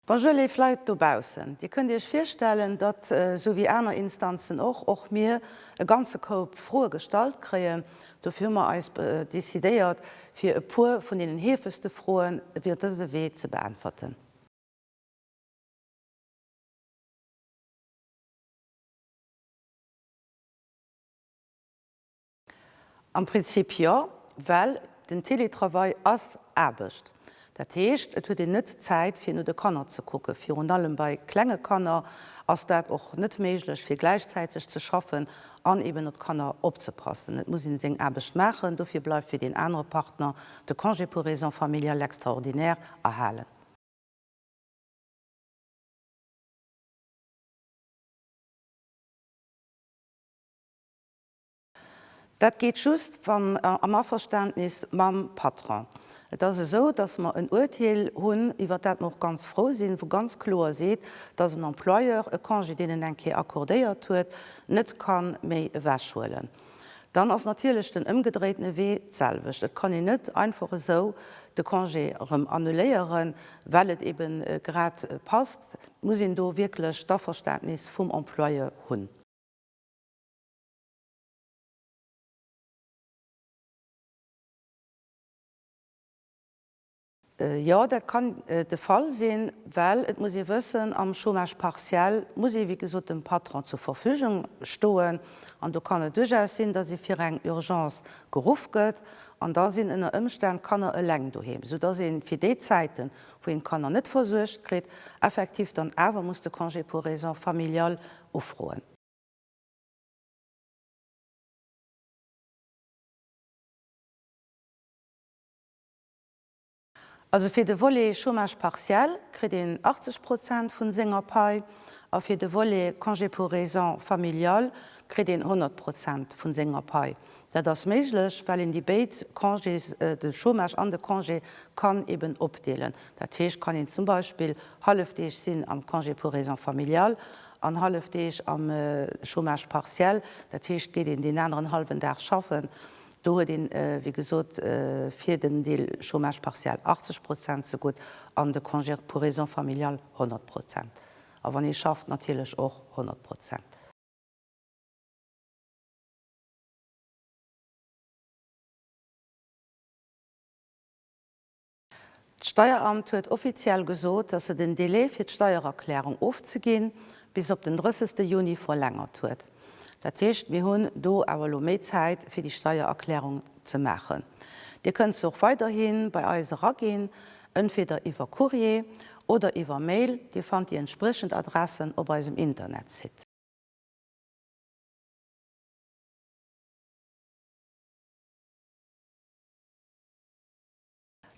Bonjour léif Leit dobaussen. Dir kënnt Iech virstellen, datt, esou wéi aner Instanzen och, och mir e ganze Koup Froe gestallt kréien. Dofir hu mer eis decidéiert, fir e puer vun deenen heefegste Froen iwwer dëse Wee ze beäntwerten. Am Prinzip jo, well den Télétravail ass Aarbecht. Dat heescht, et huet een net Zäit fir no de Kanner ze kucken. Virun allem bei klenge Kanner ass dat och net méiglech fir gläichzäiteg ze schaffen an eben op d'Kanner opzepassen. Et muss een seng Aarbecht maachen. Dofir bleift fir deen anere Partner de Congé pour raisons familiales extraordinaires erhalen. Dat geet just wann am Averständnis mam Patron. Et ass esou, dass mer en Uerteel hunn, iwwert dat mer och ganz frou sinn, wou ganz kloer seet, dass en Employeur e Congé, deen en eng Kéier accordéiert huet, net ka méi ewechhuelen. Dann ass natierlech den ëmgedréitene Wee d'selwecht. Et kann een net einfach esou de Congé erëm annuléieren, well et eebe grad passt. Et muss een do wierklech d'Averständnis vum Employeur hunn. Jo, dat kann de Fall sinn, well et muss ee wëssen, am Chômage partiel muss ee wéi gesot dem Patron zur Verfügung stoen. An do kann et duerchaus sinn, datt ee fir eng Urgence geruff gëtt an da sinn ënner Ëmstänn d'Kanner eleng doheem, soudatt ee fir déi Zäiten, wou een d'Kanner net versuergt kritt, effektiv dann awer muss de Congé pour raisons familiales ufroen. Also fir de Volet Chômage partiel kritt een 80 Prozent vu senger Pai a fir de Volet Congé pour raisons familiales kritt een 100 Prozent vu senger Pai. Dat ass méiglech, well een déi béid Congés, de Chômage an de Congé, kann eben opdeelen. Dat heescht, kann een zum Beispill hallefdeeg sinn am Congé pour raisons familiales an hallef Deeg am Chômage partiel, dat heescht geet een deen aneren hallwen Dag schaffen, do huet een, wéi gesot, fir den Deel Chômage partiel 80 Prozent zegutt an de Congé pour raisons familiales 100 Prozent, a wann ee schafft natierlech och 100 Prozent. D'Steieramt huet offiziell gesot, dass se den Delai fir d'Steiererklärung ofzeginn, bis op den 30 Juni verlängert huet. Dat heescht, mir hunn do awer elo méi Zäit fir déi Steiererklärung ze maachen. Dir kënnt se och weiderhi bei eis eraginn, entweder iwwer Courrier oder iwwer Mail, Dir fannt déi entspriechend Adressen op eisem Internetsite.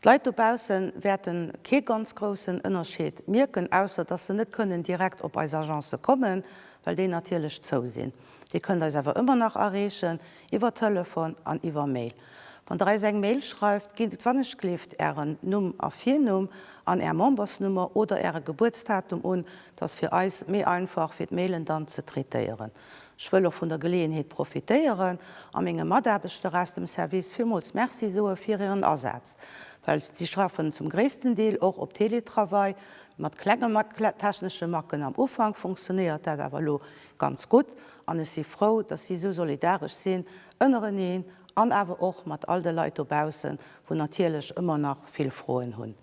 D'Leit dobausse wäerte kee ganz groussen Ënnerscheed mierken, ausser dass se net kënnen direkt op eis Agencë kommen, well déi natierlech zou sinn. Dir kënnt eis awer ëmmer nach erreechen, iwwer Telefon an iwwer Mail. Wann Der eis eng Mail schreift, gitt wann-ech-gleeft Ären Numm a Virnumm an Är Membersnummer oder Äre Gebuertsdatum un, dat ass fir eis méi einfach fir d'Mailen dann ze traitéieren. Ech wëll och vun der Geleeënheet profitéieren a menge Mataarbechter aus dem Service villmools Merci soe fir hiren Asaz, well si schaffen zum gréissten Deel och op Teletravail, mat klenge technesche Macken am Ufank funktionéiert dat awer elo ganz gutt an ech si frou, dass si esou solidaresch sinn ënnereneen an awer och mat all de Leit dobaussen, wou natierlech ëmmer nach vill Froen hunn.